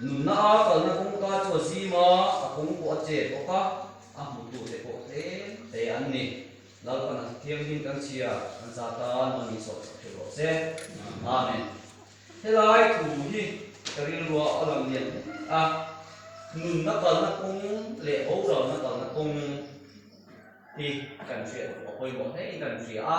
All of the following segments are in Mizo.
Nunna a kalna kawngka chu a zim a, a kawng pawh a che bawk a, a hmutu te pawh tlem te an ni. Lalpana Thianghlim kan chhia kan za tan awm anih sawhchhuah hre rawh se. Amen. Helai thu hi ka rilrua a lang lian hle a, nunna kalna kawng leh boralna kalna kawng hi kan hriat duh a pawimawh hlein kan hria a.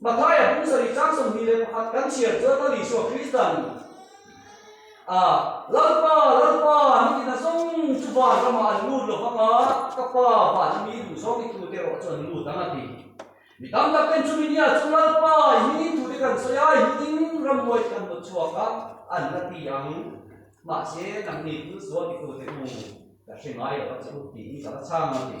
Mathaia pu sarih chang sawmhnih leh pakhat kan chhiar chuan Ral Isua Khrista a ni. A, Lalpa, Lalpa, nitin a zawng chu van ramah an lut lo vang a, ka Pa van ami i duhsawm dik thu te erawh chu an lut ang a ti. Mi tam tak ten chu mi nia chu Lalpa i hmingin thu te kan sawi a, i hmingin ram muai te kan haw chhuak a, an la ti ang. Mahse, nangni thil sual dik thu te u, ka hre ngai lo a che u, tih i ka la chhang a ti.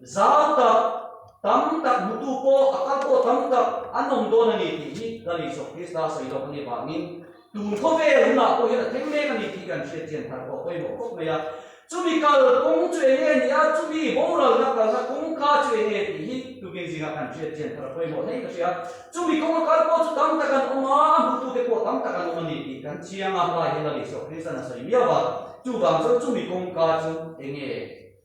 Zau tak tam tak hmutu pawh a kal pawh tam tak an awm dawn a ni tih hi Gari Sawk Krista sawi loh ania vangin tun khawvel hunah pawh hian a thleng mek a ni tih kan hriatchian thar pawh a pawimawh khawp mai a. Chumi kal kawng chu enge a nih a, chumi boralna kalna kawngka chu enge tih hi tukin zingah kan hriatchian thar a pawimawh hleng ka hria. Chumi kawng a kal pawh chu tam tak an awm a, a hmutute pawh tam tak an awm a ni tih kan chiang a, hla hi Gari Sawk Kristan a sawi miau a, chuvang chuan chumi kawngka chu enge?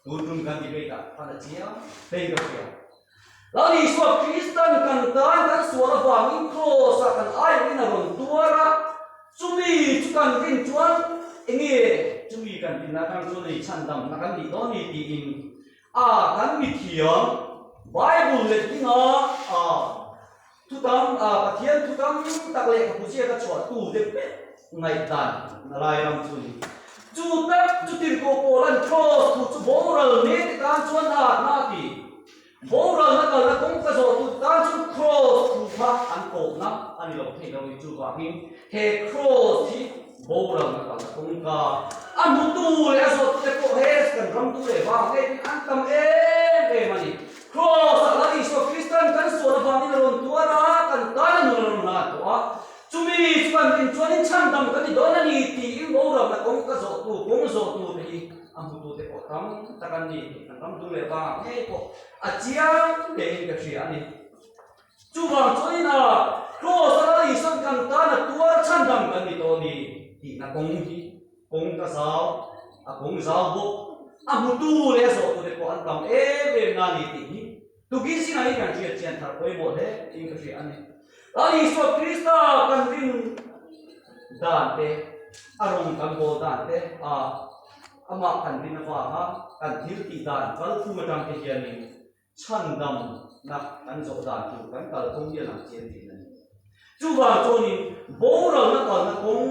Tuntum kan debate ah kan a chia hlein ka hria. Lam Isua Kristan kan tan kan sual avang in Kraws ah kan aih in a rawn tuar a, chumi chu kan din chuan enge chumi kan din a kan chu leichhan dam na kan nih dawn ni ti in a kan mithiam Bible let ding a a. Chutang ah Pathian thu tam tak leh ka pu chiah ka chhuah tu te pet ngaih dan na lai ram chu ni. Chu tak chu tirhkoh pawl an cross thu chu boral mek te tan chuan a at na ti. Boral na kal na kawngka zawh tu te tan chuan cross thu kha an kawh na a ni lo thei lo ni chu vang in he cross hi boral na kal na kawngka a hmu tu leh a zawh tu te pawh he kan ram tu leh vang ngei pawh in an tam em em a ni. Kraws ah kan Isua Krista'n kan sual avangin a rawn tuar a, kan tan a nun a rawn nghal tawh a, chumi chuan rin chuanin chhan dang ka ni dawn a ni tiin boruakna kawng ka zawhtu, kawng zawhtute hi a hmutute pawh tam tak an ni tih kan ram tum leh avanga ngei pawh a chiang tein ka hria a ni. Chuvang chuan in ah Kraws a lal Isua'n kan tan a tuar chhan dang kan ni tawh a ni tihna kawng hi, Kawng ka zau, a kawng zau bawk. A hmutu leh a zawhtu te pawh an tam em em na ni tih hi tukin sinah hi kan hriat chian thar pawimawh hle tiin ka hria a ni. A Isua Krista kan rin dan te, a rawn kan haw dan te a, amah kan rin avanga kan thil tih dan kal phum atang te hianin, chhan damnak kan zawh dan tur kan kal kawng hi a lang chian theih na ni. Chuvang chuanin boruakna kalna kawng,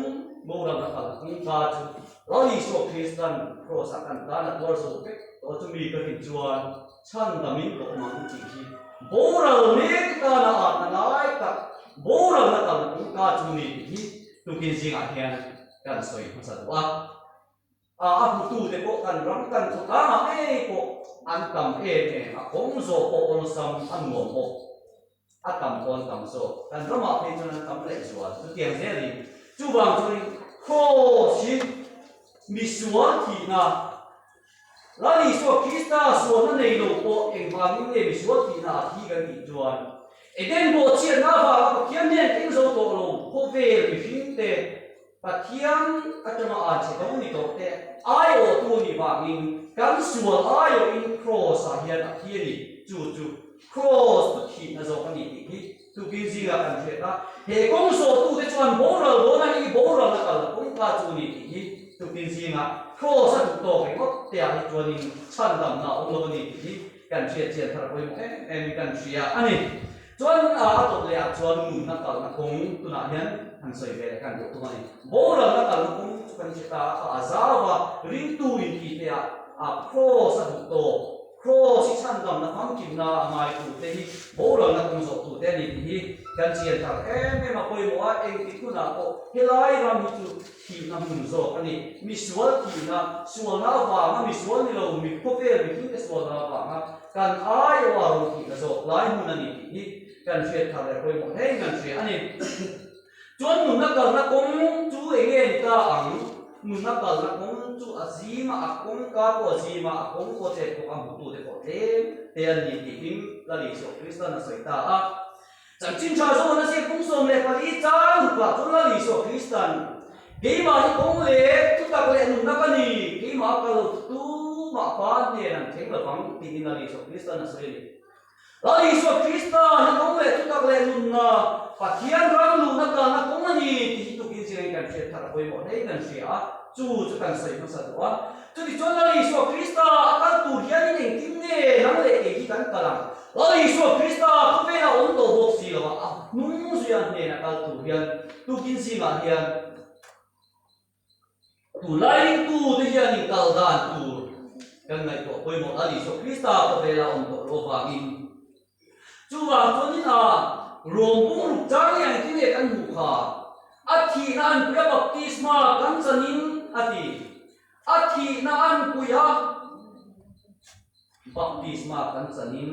boruakna kalna kawngka chu Ral Isua Kristan Kraws-a kan tan a tuar zawh vek tawh a, chumi ka rin chuan chhan damin pawh mang tih hi boral mek tana atna ngai tak boruakna kalna kawngka chu ni tih hi tukin zingah hian kan sawi hmasa duh a. A a hmutu te pawh kan ram kan chu tlangah ngei pawh an tam em em a kawng zawh pawh awlsam a nuam bawk a tam pawn tam zawk kan ramah phei chuan an tam leh zual chu tiang zel in chuvang chuan Kraws in misual thihna Lal Isua Krista sualna nei lo pawh engvangin nge misual thihna a thi kan tih chuan Eden buahchiatna vanga Pathian hian eng zo tawh lo khawvel mihringte Pathian atanga aa che dawng ni tawh te aiawhtu a nih vangin kan sual aiawhin Kraws ah hian a thi a ni. Chu chu Kraws tu thihna zawk a ni tih hi tukin zingah kan hriat a. He kawng zawhtute chuan boral dawn a nih i, boral a kalna kawngka chu a ni tih hi tukin zingah Kraws a duh tawk ringawt te ah hi chuanin chhandamna a awm lo a ni tih hi Kan hriat chian thar pawimawh em em hi kan hria a ni. Chuan a tawp leh ah chuan nunna kalna kawng tunah hian han sawi ve leh kan duh tum a ni. Boruakna kalna kawng chu kan hria ta a, a zau a, ringtu inti te ah a Kraws a duh tawh, Kraws hi chhandamna famkimna a ngai tu te hi boruakna kawng zawh tu te a ni tih hi kan chian thar em em a pawimawh a, engtik hunah pawh helai ram hi chu Thihna hmun zawk a ni. Misual thihna, sualna vanga misual ni lo mi khawvel miphun te sualna vanga kan ai awh a rawn thihna zawk lai hmun a ni tih hi kan hriat thar leh pawimawh hle in kan hria a ni. Chuan nunna kalna kawng chu eng nge ni ta ang? Nunna kalna kawng chu a zima a kawngka pawh a zima a kawng pawh chep bawk a hmuh tute pawh tlem te an ni tih hi Lalizuaw Kristan a sawi ta a. Chanchin tha zawng an zir pum sawm leh pali tlang ru pah chuan Lal Isua Krista nih, Keimah hi kawng leh thutak leh nunna ka ni, keimah a kal lo thutu mah pa nen an thleng lo vang, ti niin Lal Isua Krista an sawi a ni. Lal Isua Krista hi kawng leh thutak leh nunna Pathian rang luhna kalna kawng a ni tih hi tukin zir in kan hriat thar a pawimawh hle in kan hria a, chu chu kan sawi hmasa duh a. Chutichuan Lal Isua Krista a kal tur hian in engtin nge nang leh kei hi kan kal ang? Aw Isua Krista khawvela awm tawh bawk si lo a, a hnung zui an hnena kal tur hian tukin zingah hian tu Lailingtu te hianin kal dan tur kan ngaihtuah pawimawh a, Isua Krista khawvela awm tawh loh avangin. Chuvang chuan in a ruam bum ruk chang hi engtin nge kan hmuh kha? A thihna an puih a, baptisma kan chanin a ti. A thihna an puih a. Baptisma kan chanin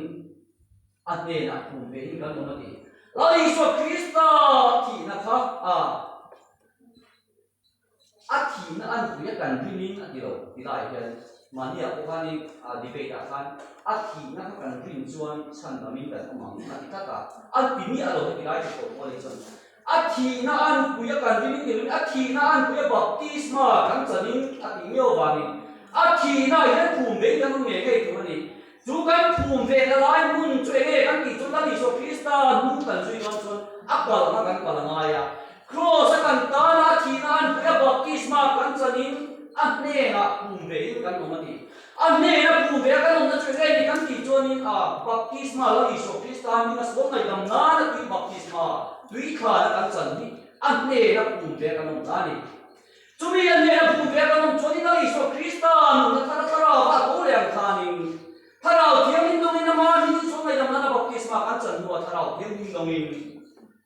a hnenah pum vein kan awm a ni. Lal Isua Krista thihna kha a a thihna a nupui a kan rimin a ti lo ti lai hian Maria pawh khan in a debate ah khan a thihna kha kan rin chuan chhan lam in kan awm ang a ti tlat a. An ti miah a lo heti lai thei pawh pawl hi chuan A thihna a nupui a kan ring tirh in a thihna a nupui a baptisma kan chan in a tih miau vang in a thihna ah hian phum ve in kan awm ve ngei tur a ni. Chu kan phum ve ta lai hmun chu eng nge kan tih chuan kan Isua Krista hnung kan zui nan chuan a kal ang a kan kal ngai a. Kraws a kan tan a, a thihna a nupui a baptisma kan chan in a hnenah phum ve in kan awm a ni. A hnena bu ve a kan awmna chu heng hi kan tih chuanin a baptisma lo Isua Krista a hming a sual ngaih dam nan a tui baptisma tui thlan a kan chan hi a hnena pum ve a kan awm ta a ni. Chumi a hnena bu ve a kan awm chuanin a Isua Krista nunna thar a Thlarau a tho leh ang thlanin Thlarau Thianghlim lawngin amah a hming chu sual ngaih dam nan a baptisma kan chan hnu a Thlarau Thianghlim lawngin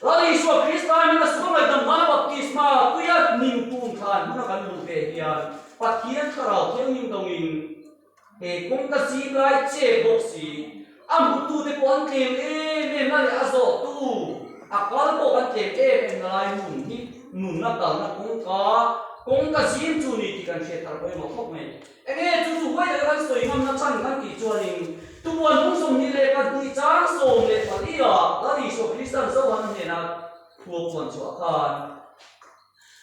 Ral Isua Krista hnena sungaidam hmang baptisma tuia hnim tun kha an hmang a kan hmuh ve hian Pathian Thlarau thianghlim dawngin, He kawng ka zim lai che bawk si, a hmutute pawh an tlem em em na leh a zawhtu a kal pawh an tlem em em na lai hmun hi nunna kalna kawngka kawng ka zim chu ni tih kan hriat tar pawimawh thawk mai. Eng nge chu chu huaih leh kan sawi hmanna chhan kan tih chuanin tupuan hnung sawm ni leh pahnih chang sawm leh paliaa Rali saw Kristian zo han hnena thua puan chuah khan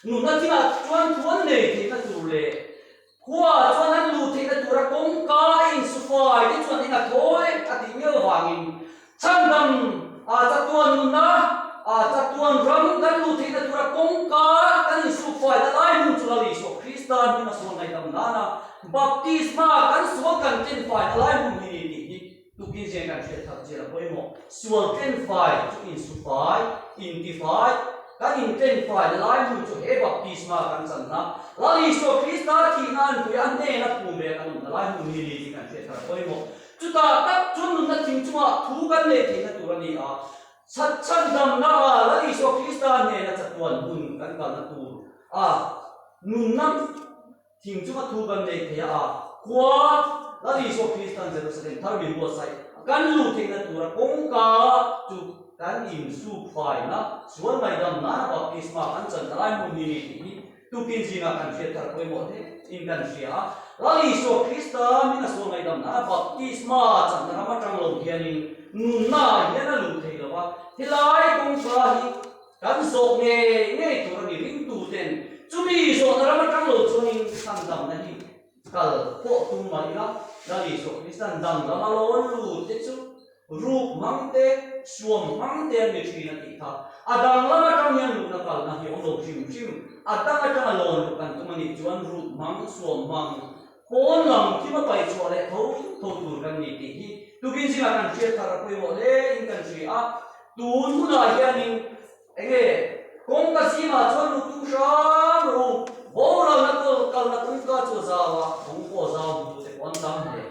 nunna thila chuan thuan nei theihna tur leh khua chuan an luh theihna tura kawngka a insufai te chuan in a thawi a tih miau vangin Chhan dang aa chatuan nunna aa chatuan ram kan luh theihna tura kawngka kan insuk fai ta lai hmun cu lo i sawh. Kristan hmina sawn ngaihdam nan ah baptisma kan sawn kan tlen fai ta lai hmun hi ni hi tukin zia in kan hriatthar cia lo pawimawh? Sual tlen fai cu in su fai, in ti fai, kan in tlen fai ta lai hmun cu he baptisma kan channa lal i sawh. Krista thihnak in puiah hnen a pum ve kan um ta lai hmun hi ni hi kan hriatthar pawimawh? Chuta tak chu nunna thing chungah thu kan nei thei na tur a ni a, chhatchhat damdama Ral Isua Krista hnena chatuan hun kan kalna tur a nunna thing chunga thu kan nei thei a, khua Ral Isua Kristan Jerusalem thar min buatsaih kan luh theihna tura kawngka chu kan insuk fai na sual ngaihdam nana baptisma kan channa lai hmun hi ni tih hi Tukin zingah kan thlir thar pawimawh tein kan hria a. Ral Isua Krista min a sual ngaihdamna a baptisma chakna ram atang lo hianin nunna ah hian a luh thei lo a. Helai kawngka hi kan zawh ngei ngei tur a ni. Ringtuten chumi zawhna ram atang lo chuangin hlandamna hi Kal pawh tum mai ila, Ral Isua Krista'n dang lama lawn lut te chu ruk hmang te, suam hmang te an ni thin a tih kha. A dang lam atang hian lutna kalna hi a awm lo hrim hrim. A dang atanga lawn lut kan tum a nih chuan ruk hmang, suam hmang, pawn lam kim a pai chhuah leh tho tho tur kan ni tih hi tukin zingah kan hriat thar a pawimawh hle in kan hria. Tun hunah hianin. Eng nge? Kawngka sima chuan lutu hrang hrang boralna kal kalna kawngka chu a zau a, kawng pawh a zau hmutu te pawh an tam hle.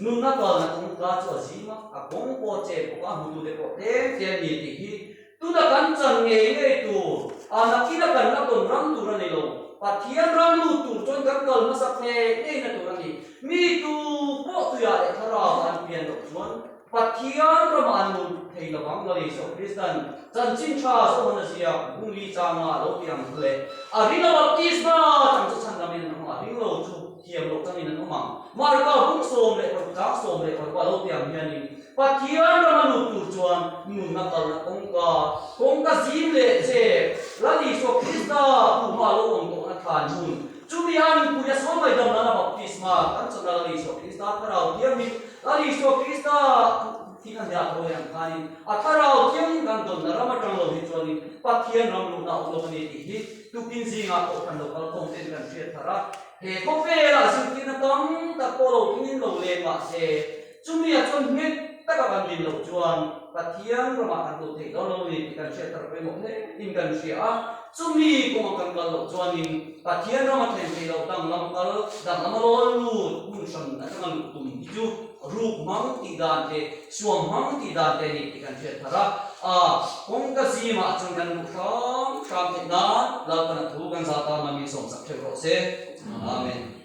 Nunna kalna kawngka chu a zim a, a kawng pawh che bawk a, hmutu te pawh tlem tlem ni tih hi tuna kan chan ngei ngei tur ana ina kan la tawn rang tur a ni lo. Pathian ram lut tur chuan kan kal hmasak ngei ngei na tur a ni. Mitu pawh tuiah leh tharava an pian loh chuan, Pathian ramah an awm tuk thei lo ang lawni zawk Kristian chanchin tha zawk han zia Hungary changa a lo ti ang chu le, a ringa baptisma chang chu chhan lamin an awm a, ring lo chu thiam loh changin an awm ang. Marka hung sawm leh paruk chang sawm leh paruk a lo ti ang hianin Pathian ram a lut tur chuan nunna kalna kawngka, kawngka zim leh chep, ralni zawk Krista puma a lo awm tawhna than hmun chumi a inpuia sawi mai dam lana baptisma kan chawhna ralni zawk Krista thlarau thiam hi, Kan Isua Krista thih a hliah dawi ang khanin a thlarau thiangin kan dawnna ram atang lo hi chuanin Pathian ram luhna a awm lawk a ni tih hi tukin zingah pawh kan lo kal khawm te'n kan hriat thar a. He khawvelah zirtirna tam tak pawh lo tling in lo leh mah se, chumi ah chuan hmet taka kan din loh chuan Pathian ramah kan duh theih dawn lo a ni tih kan hriat thar pawimawh hle in kan hria a. Chumi kawngah kan kal loh chuanin Pathian ram athlen theih loh dang lam kal dang lama rawn lut hun hran atanga luh tum hi chu ruk hmang tih dan te suam hmang tih dan te ani tih kan hriat thar a. A kawngka zimah a changkan luh hram hram theih nan lalpanah thu kan zata hmangin sawmsak theuh rawh se. Amen.